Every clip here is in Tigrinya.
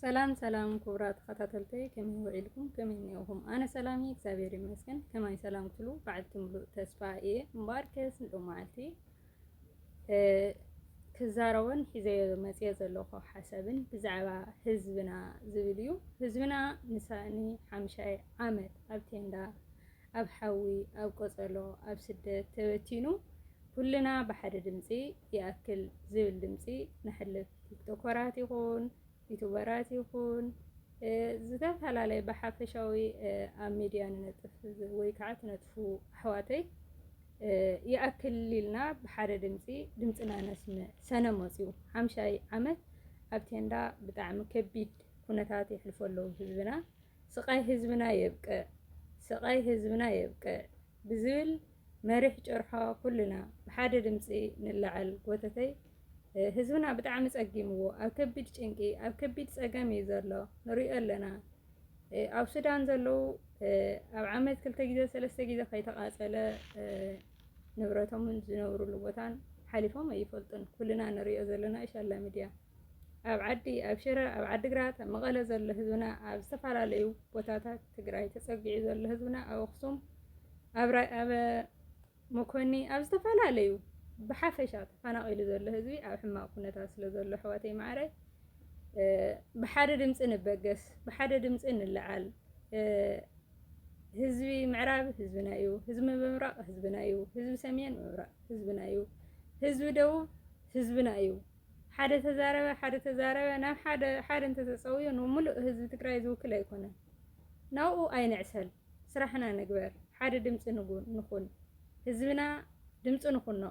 ሰላም ሰላም ክቡራት ተኸታተልተይ ከመይ ውዒልኩም ከመይ እኒኦኹም? ኣነ ሰላም እየ እግዚኣብሔር ይመስገን። ከማይ ሰላም ክትሉ በዓልቲ ሙሉእ ተስፋ እየ እምበኣር ከስ ንዑ መዓልቲ ክዛረቦን ሒዘዮ መፅኦ ዘለኹ ሓሳብን ብዛዕባ ህዝብና ዝብል እዩ። ህዝብና ንሳእኒ ሓምሻይ ዓመት ኣብ ቴንዳ ኣብ ሓዊ ኣብ ቆፀሎ ኣብ ስደት ተበቲኑ ኩልና ብሓደ ድምፂ ይኣክል ዝብል ድምፂ ነሕልፍ ቲክቶከራት ይኹን ዩቱበራት ይኹን ዝተፈላለየ ብሓፈሻዊ ኣብ ሚድያ ንነጥፍ ወይ ከዓ ትነጥፉ ኣሕዋተይ ይኣክል ኢልና ብሓደ ድምፂ ድምፅና ነስምዕ ሰነ መፅኡ ሓምሻይ ዓመት ኣብ ቴንዳ ብጣዕሚ ከቢድ ኩነታት የሕልፎ ኣለዉ ህዝብና ስቃይ ህዝብና የብቅዕ ስቃይ ህዝብና የብቅዕ ብዝብል መሪሕ ጭርሖ ኩልና ብሓደ ድምፂ ንላዓል ጎተተይ ህዝብና ብጣዕሚ ፀጊምዎ ኣብ ከቢድ ጭንቂ ኣብ ከቢድ ፀገም እዩ ዘሎ ንሪኦ ኣለና ኣብ ሱዳን ዘለዉ ኣብ ዓመት ክልተ ግዜ ሰለስተ ግዜ ከይተቃፀለ ንብረቶምን ዝነብሩሉ ቦታን ሓሊፎም ኣይፈልጡን ኩልና ንሪኦ ዘለና ኢሻላ ሚድያ ኣብ ዓዲ ኣብ ሽረ ኣብ ዓዲግራት ኣብ መቐለ ዘሎ ህዝብና ኣብ ዝተፈላለዩ ቦታታት ትግራይ ተፀጊዑ ዘሎ ህዝብና ኣብ ኣኽሱም ኣብ መኮኒ ኣብ ዝተፈላለዩ ብሓፈሻ ተፈናቒሉ ዘሎ ህዝቢ ኣብ ሕማቕ ኩነታት ስለ ዘሎ ኣሕዋተይ ማዕረይ ብሓደ ድምፂ ንበገስ ብሓደ ድምፂ ንለዓል ህዝቢ ምዕራብ ህዝብና እዩ ህዝቢ ምብራቕ ህዝብና እዩ ህዝቢ ሰሜን ምብራቕ ህዝብና እዩ ህዝቢ ደቡብ ህዝብና እዩ ሓደ ተዛረበ ሓደ ተዛረበ ናብ ሓደ ሓደ እንተተፀውዮ ንሙሉእ ህዝቢ ትግራይ ዝውክል ኣይኮነን። ናብኡ ኣይንዕሰል ስራሕና ንግበር ሓደ ድምፂ ንኹን ህዝብና ድምፂ ንኹኖ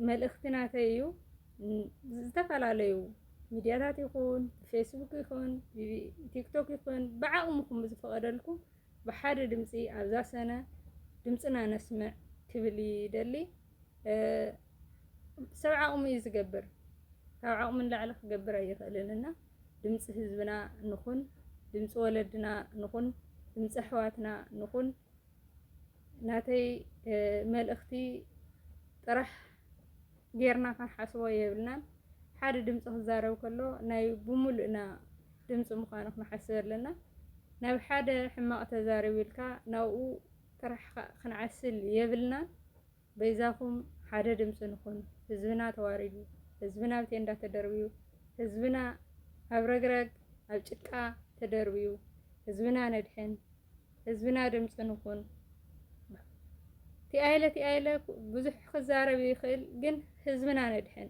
መልእኽቲ ናተይ እዩ። ዝተፈላለዩ ሚድያታት ይኹን ፌስቡክ ይኹን ቲክቶክ ይኹን ብዓቕምኹም ብዝፈቐደልኩም ብሓደ ድምፂ ኣብዛ ሰነ ድምፅና ነስምዕ ክብል ይደሊ። ሰብ ዓቕሙ እዩ ዝገብር ካብ ዓቕሙ ንላዕሊ ክገብር ኣይኽእልን እና ድምፂ ህዝብና ንኹን፣ ድምፂ ወለድና ንኹን፣ ድምፂ ኣሕዋትና ንኹን። ናተይ መልእኽቲ ጥራሕ ጌርና ክንሓስቦ የብልናን። ሓደ ድምፂ ክዛረብ ከሎ ናይ ብምሉእና ድምፂ ምዃኑ ክንሓስብ ኣለና። ናብ ሓደ ሕማቕ ተዛሪቡ ኢልካ ናብኡ ጥራሕ ኻእ ክንዓስል የብልናን በይዛኹም ሓደ ድምፂ ንኹን ህዝብና ተዋሪዱ ህዝብና ኣብ ቴንዳ ተደርብዩ ህዝብና ኣብ ረግረግ ኣብ ጭቃ ተደርብዩ ህዝብና ነድሕን ህዝብና ድምፂ ንኹን ቲኣይለ ቲኣይለ ብዙሕ ክዛረብ ይኽእል ግን ህዝብና ነድሕን።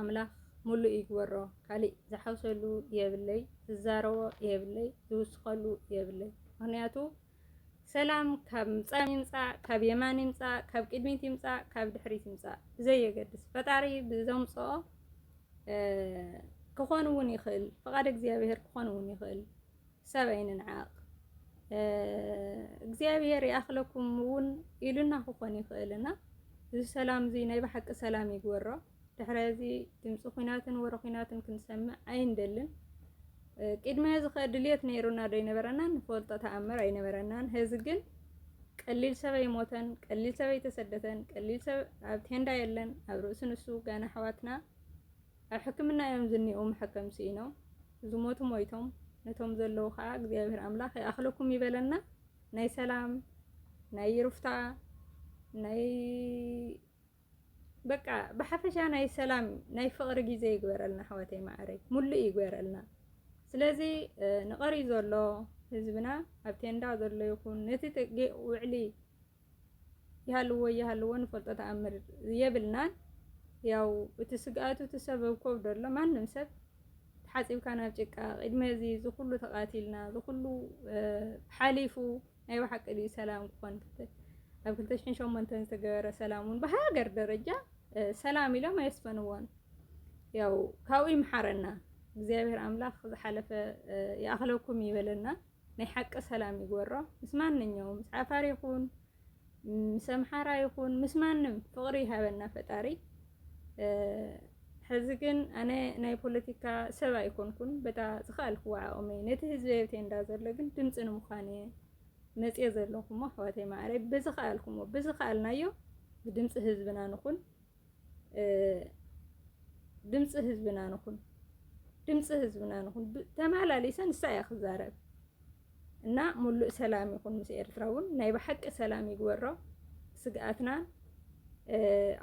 ኣምላክ ሙሉእ ይግበሮ ካሊእ ዝሓውሰሉ የብለይ ዝዛረቦ የብለይ ዝውስከሉ የብለይ ምክንያቱ ሰላም ካብ ምጻም ይምጻእ ካብ የማን ይምጻእ ካብ ቅድሚት ይምጻእ ካብ ድሕሪት ይምጻእ ብዘየገድስ ፈጣሪ ብዘምጽኦ ክኾን እውን ይኽእል ፍቓድ እግዚኣብሄር ክኾን እውን ይኽእል ሰብ ኣይንንዓቕ እግዚኣብሄር ይኣኽለኩም እውን ኢሉና ክኾን ይኽእልና እዚ ሰላም እዚ ናይ ብሓቂ ሰላም ይግበሮ። ድሕረ እዚ ድምፂ ኩናትን ወረ ኩናትን ክንሰምዕ ኣይንደልን። ቅድሚ እዚ ከ ድልየት ነይሩና ዶ ኣይነበረናን ንፈልጦ ተኣምር ኣይነበረናን። ህዚ ግን ቀሊል ሰብ ኣይሞተን፣ ቀሊል ሰብ ኣይተሰደተን፣ ቀሊል ሰብ ኣብ ቴንዳ የለን፣ ኣብ ርእሲ ንሱ ጋና ኣሕዋትና ኣብ ሕክምና እዮም ዝኒኦው መሐከም ሲኢኖም ዝሞቱ ሞይቶም ነቶም ዘለዉ ከኣ እግዚኣብሔር ኣምላክ ይኣክለኩም ይበለና ናይ ሰላም ናይ ይሩፍታ ናይ በቃ ብሓፈሻ ናይ ሰላም ናይ ፍቅሪ ግዜ ይግበረልና ኣሕዋተይ ማዓረይ ሙሉእ ይግበረልና ስለዚ ንቀሪ ዘሎ ህዝብና ኣብ ቴንዳ ዘሎ ይኹን ነቲ ውዕሊ ይሃልዎ ይሃልዎ ንፈልጦ ተኣምር የብልናን። ያው እቲ ስግኣቱ እቲ ሰብ ኣብ ከብዱ ኣሎ ማንም ሰብ ተሓፂብካ ናብ ጭቃ ቅድሚ እዚ ዝኩሉ ተቃቲልና ዝኩሉ ሓሊፉ ናይ ብሓቂ ድዩ ሰላም ክኾን ኣብ ክልተ ሽሕን ሸሞንተን ዝተገበረ ሰላም እውን ብሃገር ደረጃ ሰላም ኢሎም ኣየስፈንዎን። ያው ካብኡ ይምሓረና እግዚኣብሔር ኣምላኽ ዝሓለፈ ይኣኽለኩም ይበለና። ናይ ሓቂ ሰላም ይግበሮ ምስ ማንኛውም ምስ ዓፋር ይኹን ምስ ኣምሓራ ይኹን ምስ ማንም ፍቕሪ ይሃበና ፈጣሪ። ሕዚ ግን ኣነ ናይ ፖለቲካ ሰብ ኣይኮንኩን በታ ዝኸኣልክዎ ዓቕሚ ነቲ ህዝቢ የብቴንዳ ዘሎ ግን ድምፂ ንምዃን እየ መፅየ ዘለኹሞ ኣሕዋተይ ማዕረይ ብዝኸኣልኩሞ ብዝኸኣልናዮ ብድምፂ ህዝብና ንኹን ድምፂ ህዝብና ንኹን ድምፂ ህዝብና ንኹን ተመላሊሰ ንሳ እያ ክዛረብ እና ሙሉእ ሰላም ይኹን ምስ ኤርትራ እውን ናይ ብሓቂ ሰላም ይግበሮ ስግኣትና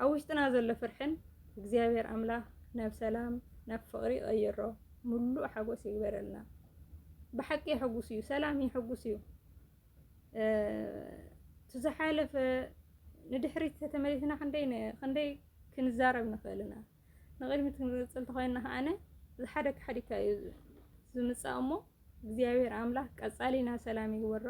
ኣብ ውሽጥና ዘሎ ፍርሕን እግዚኣብሔር ኣምላኽ ናብ ሰላም ናብ ፍቕሪ ይቐይሮ ሙሉእ ሓጎስ ይግበረልና ብሓቂ የሐጉስ እዩ ሰላም የሐጉስ እዩ እቲ ዝሓለፈ ንድሕሪት ተተመሊስና ክንደይ ክንደይ ክንዛረብ ንኽእል ኢና። ንቕድሚት ክንቅጽል ተኾይንና ከኣነ ዝሓደ ክሓዲካ እዩ ዝምጻእ እሞ እግዚኣብሔር ኣምላኽ ቀጻሊና ሰላም ይግበሮ፣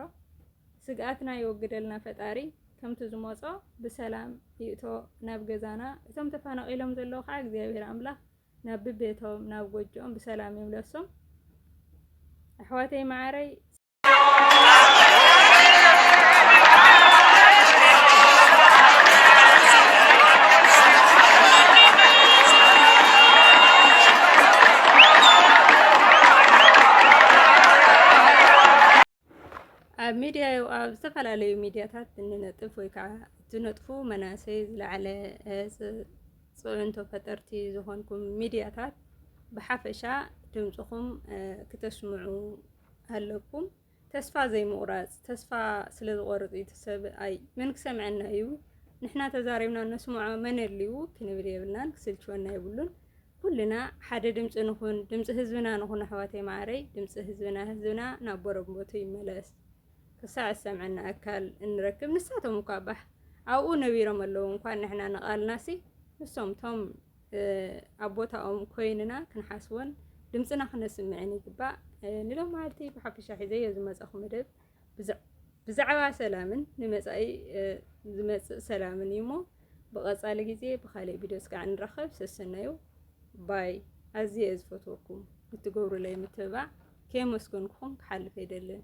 ስግኣትና ይወግደልና ፈጣሪ ከምቲ ዝመጾ ብሰላም ይእቶ ናብ ገዛና። እቶም ተፈናቒሎም ዘለዉ ከዓ እግዚኣብሔር ኣምላኽ ናብ ብቤቶም ናብ ጎጆኦም ብሰላም ይምለሶም። ኣሕዋተይ መዓረይ ኣብ ሚድያ ኣብ ዝተፈላለዩ ሚድያታት እንነጥፍ ወይ ከዓ ዝነጥፉ መናእሰይ ዝለዓለ ፅዕንቶ ፈጠርቲ ዝኾንኩም ሚድያታት ብሓፈሻ ድምፅኹም ክተስምዑ ኣለኩም ተስፋ ዘይምቑራጽ ተስፋ ስለ ዝቖርጽ እዩ ሰብኣይ መን ክሰምዐና እዩ ንሕና ተዛሪብና ነስምዖ መን ኣልዩ ክንብል የብልናን ክስልችወና የብሉን ኩልና ሓደ ድምፂ ንኹን ድምፂ ህዝብና ንኹን ኣሕዋተይ ማዕረይ ድምፂ ህዝብና ህዝብና ናብ ቦረቦቱ ይመለስ ክሳዕ ዝሰምዐና ኣካል እንረክብ ንሳቶም እኳ ባህ ኣብኡ ነቢሮም ኣለዉ እንኳን ንሕና ንቓልናሲ ንሶም ቶም ኣብ ቦታኦም ኮይንና ክንሓስቦን ድምፅና ክነስምዕን ይግባእ። ንሎም መዓልቲ ብሓፈሻ ሒዘዮ ዝመፀኹ መደብ ብዛዕባ ሰላምን ንመፃኢ ዝመፅእ ሰላምን እዩ እሞ ብቐፃሊ ግዜ ብካሊእ ቪድዮ እስካዕ ንራኸብ። ሰሰናዩ ባይ ኣዝየ እየ ዝፈትወኩም ብትገብሩለይ ምትብባዕ ከየመስገንኩኹም ክሓልፍ ኣይደልን።